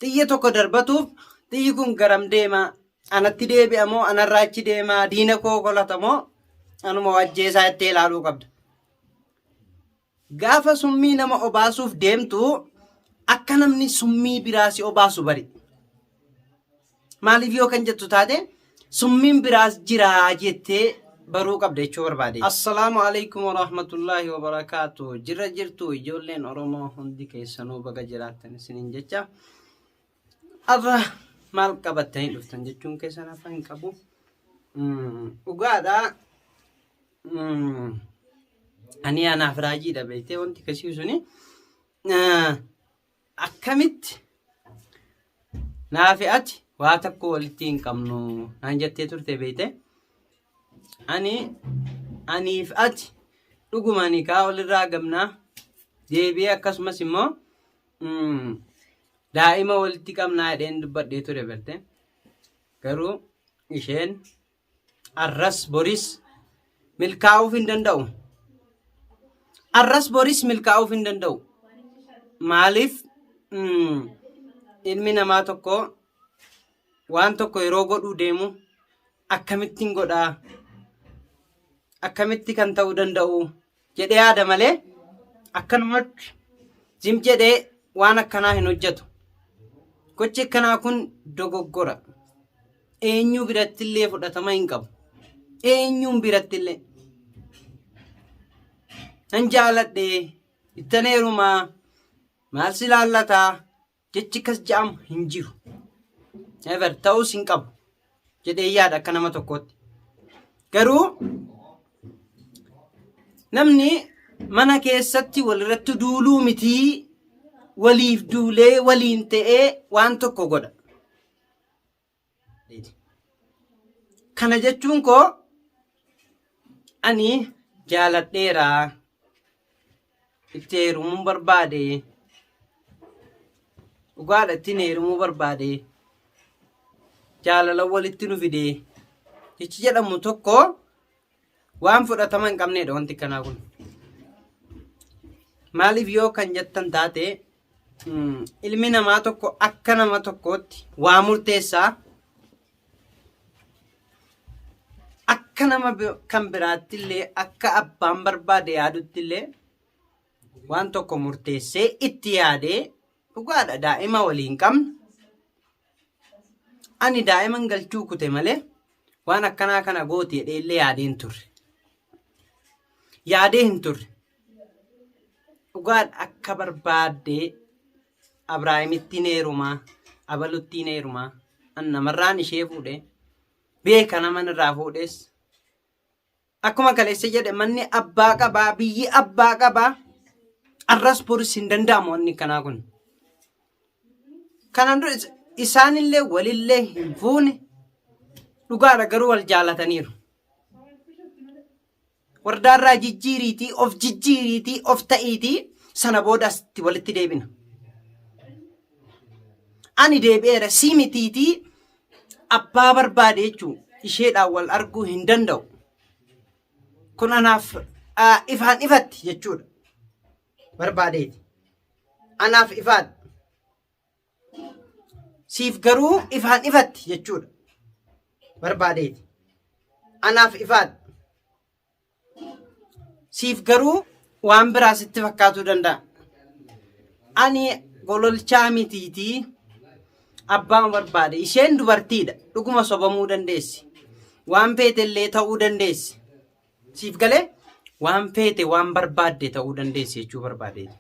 Xiyya tokko darbatuuf xiyyi kun garam deema? Anatti deebi'a moo anarraa achi deema? Diina koo kolata moo anuma wajjeesaa jettee ilaaluu qabda. Gaafa summii nama obaasuuf deemtu akka namni summii biraa si obaasu bari. Maaliif yoo kan jettu taate summiin biraas jira jettee baruu qabda jechuu barbaade. Assalaamu alaikum warahmatullaahi wabarakaatu. Jirra jirtu ijoolleen Oromoo hundi keessanuu baga jiraattan isiniin jecha. Arra maal qabattanii dhuftan jechuun keessan hafa hin qabu. Mm, Dhugaadha. Mm, Ani anaaf raajiidha beektee wanti kasii suni. Ah, akkamitti naafi ati waa tokko walitti hin qabnu naan jettee turte beeyte ani aniif ati dhuguma nikaa walirraa qabnaa deebi'ee akkasumas immoo mm, daa'ima walitti qabnaa jedheen dubbadhee ture berte garuu isheen Arras boris milkaa'uuf hin danda'u. Arras boris milkaa'uuf hin danda'u. Maaliif mm, ilmi namaa tokko waan tokko yeroo godhuu deemu akkamittiin godhaa akkamitti kan ta'uu danda'u jedhee yaada malee akkanumatti zim jedhee waan akkanaa hin hojjetu. Gochi akkanaa kun dogoggora. Eenyuu biratti illee fudhatama hin qabu. Eenyuun biratti illee. Nan jaaladhe, ittan heerumaa, maal si laallataa, Jechi akkas ja'amu hin jiru. Never ta'uus hin qabu. Jedhee yaada akka nama tokkootti. Garuu namni mana keessatti walirratti duuluu mitii waliif duulee waliin ta'ee waan tokko godha. Kana jechuun koo ani jaaladheera itti heerumuun barbaade dhugaadha ittiin heerumuu barbaade jaalala walitti nu fide jechi jedhamu tokko Waan fudhatama hin qabneedha wanti kanaa kun. Maaliif yoo kan jettan taate ilmi namaa tokko akka nama tokkootti waa murteessaa akka nama kan biraatti illee akka abbaan barbaade yaadutti illee waan tokko murteessee itti yaadee Dhugaadha daa'ima waliin qabna. Ani daa'iman galchuu kute malee waan akkanaa kana gooti jedhee illee yaadee hin turre. Yaadee hin turre. Dhugaadha akka barbaaddee Abraahimittiin heerumaa, Abaluttiin heerumaa, an namarraan ishee fuudhee beeka naman irraa fuudhees Akkuma kaleessa jedhe manni abbaa qabaa, biyyi abbaa qabaa. Arras boris hin danda'amu wanni kanaa kun. Kanaan dura isaanillee walillee hin fuune dhugaadha garuu wal jaalataniiru. Wardaarraa jijjiiriitii, of jijjiiriitii, of ta'iitii sana booda asitti walitti deebina. Ani deebi'eera sii mitiitii abbaa barbaade jechuun isheedhaan wal arguu hin danda'u. Kun anaaf ah, ifaan ifatti jechuudha. Barbaadeeti. Anaaf ifaan. Siif garuu ifaan ifatti jechuudha. Barbaadeeti. Anaaf ifaan. Siif garuu waan biraa sitti fakkaatuu danda'a. Ani gololchaa mitiitii abbaan barbaade. Isheen dubartiidha. Dhuguma sobamuu dandeessi. Waan feete illee ta'uu dandeessi. Siif galee waan feete waan barbaadde ta'uu dandeessi jechuu barbaadeeti.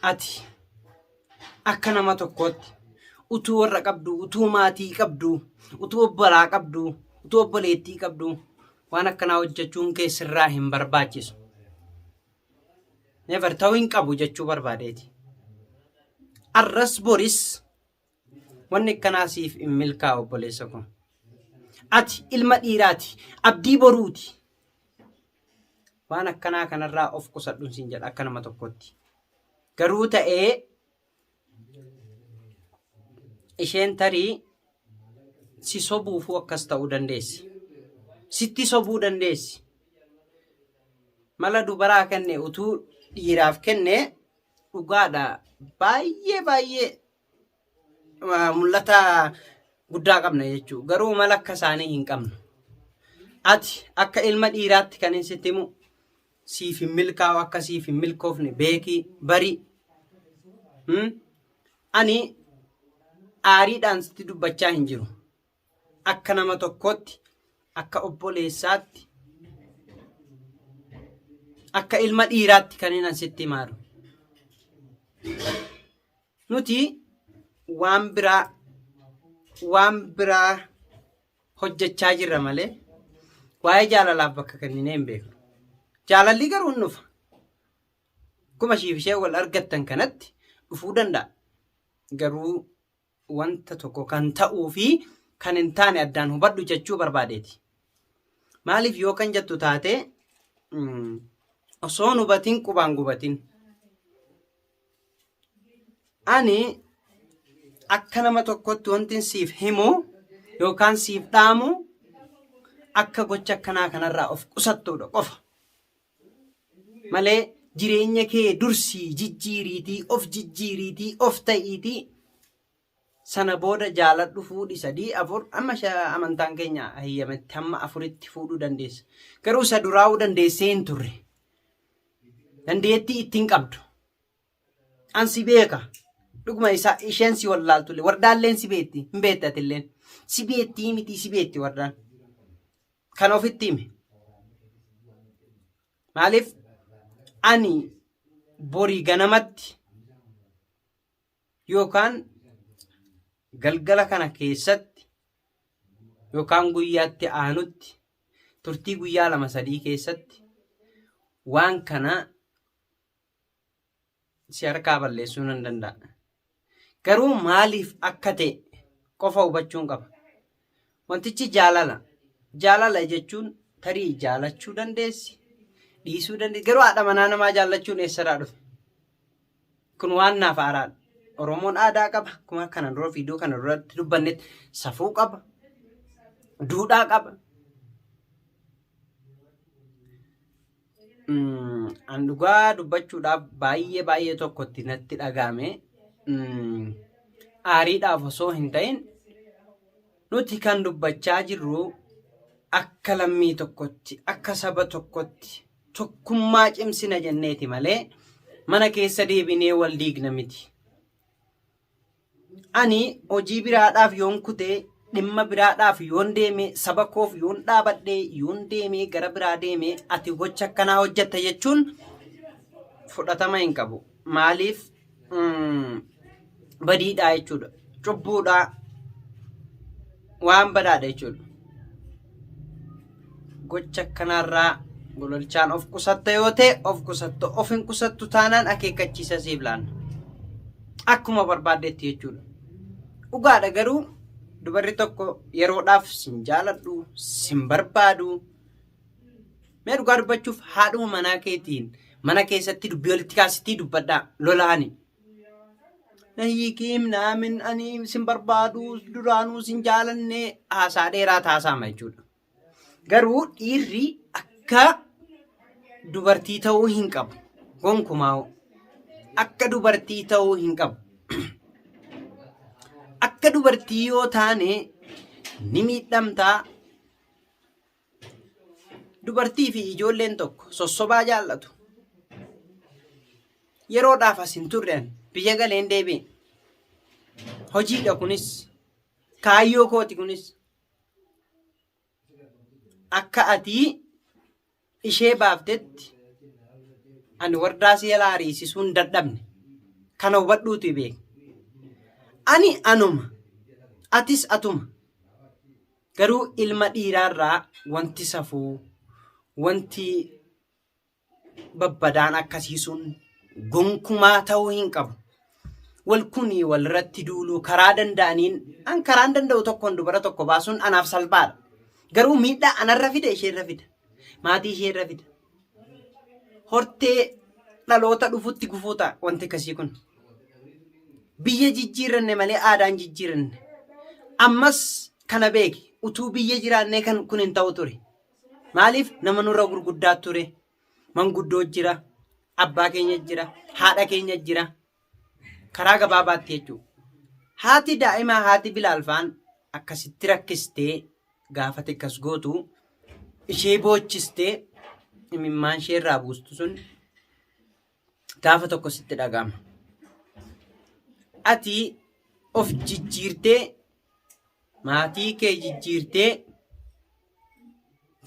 Ati akka nama tokkootti utuu warra qabdu, utuu maatii qabdu, utuu obbolaa qabdu, utuu obboleettii qabdu Waan akkanaa hojjechuun kee sirraa hin barbaachisu. Never ta'uu hin qabu jechuu barbaadeeti. Arras boris wanni akkanaa siif hin milkaa'u obboleessa koo. Ati ilma dhiiraati. Abdii boruuti. Waan akkanaa kanarraa of qusadhuun siin jedha akka nama tokkotti. Garuu ta'ee isheen tarii si sobuufuu akkas ta'uu dandeessi. Sitti sobuu dandeessi. Mala dubaraa kenne utuu dhiiraaf kenne dhugaadha baay'ee baay'ee ah, mul'ata guddaa qabna jechuudha. Garuu mala akka isaanii hin qabnu. Ati akka ilma dhiiraatti kan hin sitti himu siif hin milkaa'u akka siif hin milkoofne beeki bari Hmm? ani aariidhaan sitti dubbachaa hin jiru akka nama tokkootti akka obboleessaatti akka ilma dhiiraatti kan inni sitti himaaru nuti waan biraa waan biraa hojjechaa jirra malee waa'ee jaalalaaf bakka kenninee hin beeknu. Jaalallii garuu hin dhufa. Akkuma ishiif ishee wal argattan kanatti dhufuu danda'a. Garuu wanta tokko kan ta'uu fi kan hin taane addaan hubadhu jechuu barbaadeeti. Maaliif yoo kan jettu taate osoo hin hubatiin qubaan gubatiin. ani akka nama tokkotti wantin siif himu yookaan siif dhaamu akka gocha akkanaa kanarraa of qusattuudha qofa. Malee jireenya kee dursii jijjiiriitii of jijjiiriitii of ta'iitii sana booda jaaladhu fuudhi sadii afur amma amantaan keenya hayyametti hamma afuritti fuudhuu dandeessa garuu isa duraa'uu dandeessee hin turre dandeettii ittiin qabdu an si beeka dhuguma isaa isheen si wallaaltulle wardaalleen si beetti hin beettatilleen si beettii miti si beetti wardaan kan ofitti hime maaliif ani borii ganamatti yookaan galgala kana keessatti yookaan guyyaatti aanutti turtii guyyaa lama sadii keessatti waan kana si harkaa balleessuu nan danda'a. Garuu maaliif akka ta'e qofa hubachuun qaba. Wantichi jaalala. Jaalala jechuun tarii jaalachuu dandeessi, dhiisuu dandeessi. Garuu haadha manaa namaa jaallachuun eessarraa dhufe? Kun waan naaf haaraadha. Oromoon aadaa qaba. Akkuma kana dura viidiyoo kana duratti dubbannetti safuu qaba. Duudhaa qaba. Mm, an dhugaa dubbachuudhaaf baay'ee baay'ee tokkotti natti dhagaame mm, aariidhaaf osoo hin ta'in nuti kan dubbachaa jirru akka lammii tokkotti akka saba tokkotti tokkummaa cimsina jenneeti malee mana keessa deebinee wal diigna miti Ani hojii biraadhaaf yoon kute, dhimma biraadhaaf yoon deeme, saba koof yoon dhaabadhe, yoon deeme gara biraa deeme, ati gocha akkanaa hojjetta jechuun fudhatama hin qabu. Maaliif mm, badiidhaa jechuudha. Cubbuudhaa. waan badhaadha jechuudha. Gocha akkanaarraa gololchaan of qusatta yoo ta'e of qusatta of hin qusattu taanaan akeekkachiisa siif laanna. Akkuma barbaaddetti jechuudha. Dhugaadha garuu dubarri tokko yeroodhaaf sin jaaladhu sin barbaadu mee dhugaa dubbachuuf haadhuma manaa keetiin mana keessatti dubbii walitti kaasitii dubbadhaa lolaani. Nayiikiim naamin ani sin barbaadu duraanuu sin jaalanne haasaa dheeraa taasaama jechuudha. Garuu dhiirri akka dubartii ta'uu hin qabu. Gonkumaa akka dubartii ta'uu hin qabu. Akka dubartii yoo taane ni miidhamtaa Dubartii fi ijoolleen tokko sossobaa jaallatu. Yeroodhaaf as hin turre ani biyya galeen deebi'e. Hojiidha kunis kaayyoo kooti kunis akka atii ishee baaftetti ani wardaa si jalaa ariisisuu hin dadhabne kana hubadhuutu beeka. Ani anuma atis atuma. Garuu ilma dhiiraarraa wanti safuu, wanti babbadaan akkasii sun gonkumaa ta'uu hin qabu. Wal kunii walirratti duuluu karaa danda'aniin an karaan danda'u tokkoon dubara tokko baasuun anaaf salphaadha. Garuu miidhaa anarra fida isheerra fida. Maatii ishee irra fida. Hortee dhaloota dhufutti gufuu ta'a wanti akkasii kun. Biyya jijjiiranne malee aadaan jijjiiranne. Ammas kana beeki utuu biyya jiraannee kan kun hin ta'u ture. Maaliif nama nurra gurguddaa ture? Manguddoo jira, abbaa keenya jira, haadha keenya jira. Karaa gabaabaatti jechuudha. Haati daa'imaa haati Bilaal faan akkasitti rakkistee gaafate akkas gootu ishee boochistee imimmaan ishee irraa buustu sun gaafa tokko sitti dhaga'ama. Ati of jijjiirtee maatii kee jijjiirtee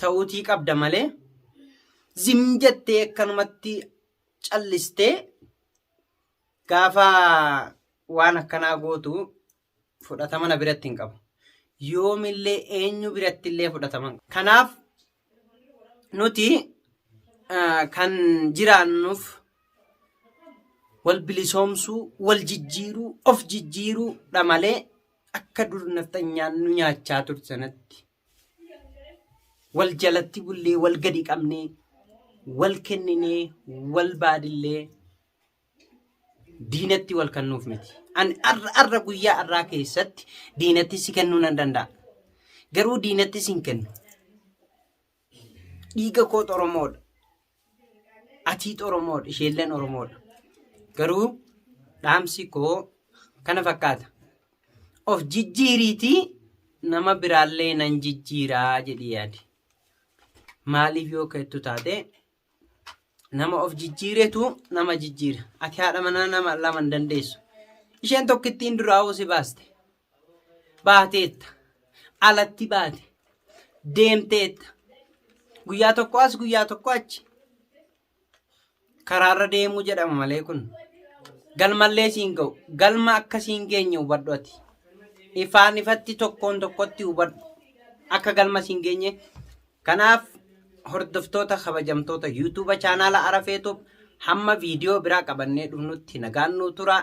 ta'uutii qabda malee zim jettee akkanumatti callistee gaafa waan akkanaa gootu fudhatama na biratti hin qabu. Yoomillee eenyu biratti illee fudhatama hin qabu. Kanaaf nuti ah, kan jiraannuuf wal bilisoomsuu, wal jijjiiruu, of jijjiiruudha malee akka dur nafxanyaan nu nyaachaa turte sanatti wal jalatti bullee wal gadi qabnee wal kenninee wal baadillee diinatti wal kennuuf miti. Ani arra arra guyyaa arraa keessatti diinatti si kennuu nan danda'a. Garuu diinatti sin kennu. Dhiiga koo Oromoodha. Atiit Oromoodha, isheelleen Oromoodha. Garuu dhaamsi koo kana fakkaata. Of jijjiiriitii nama biraallee nan jijjiiraa jedhii yaadi. Maaliif yoo keettu taate nama of jijjiiretu nama jijjiira. Ati haadha manaa nama lama hin dandeessu. Isheen tokkittiin duraa'uu si baaste. baateetta alatti baate deemteetta guyyaa tokko as guyyaa tokko achi karaarra deemuu jedhama malee kun galmallee siin ga'u galma akka siin geenye hubadhu ati ifaan ifatti tokkoon tokkotti hubadhu akka galma siin geenye kanaaf hordoftoota kabajamtoota yuutuuba chaanaala arafeetuuf hamma viidiyoo biraa qabannee dhufnutti nagaan nuu turaa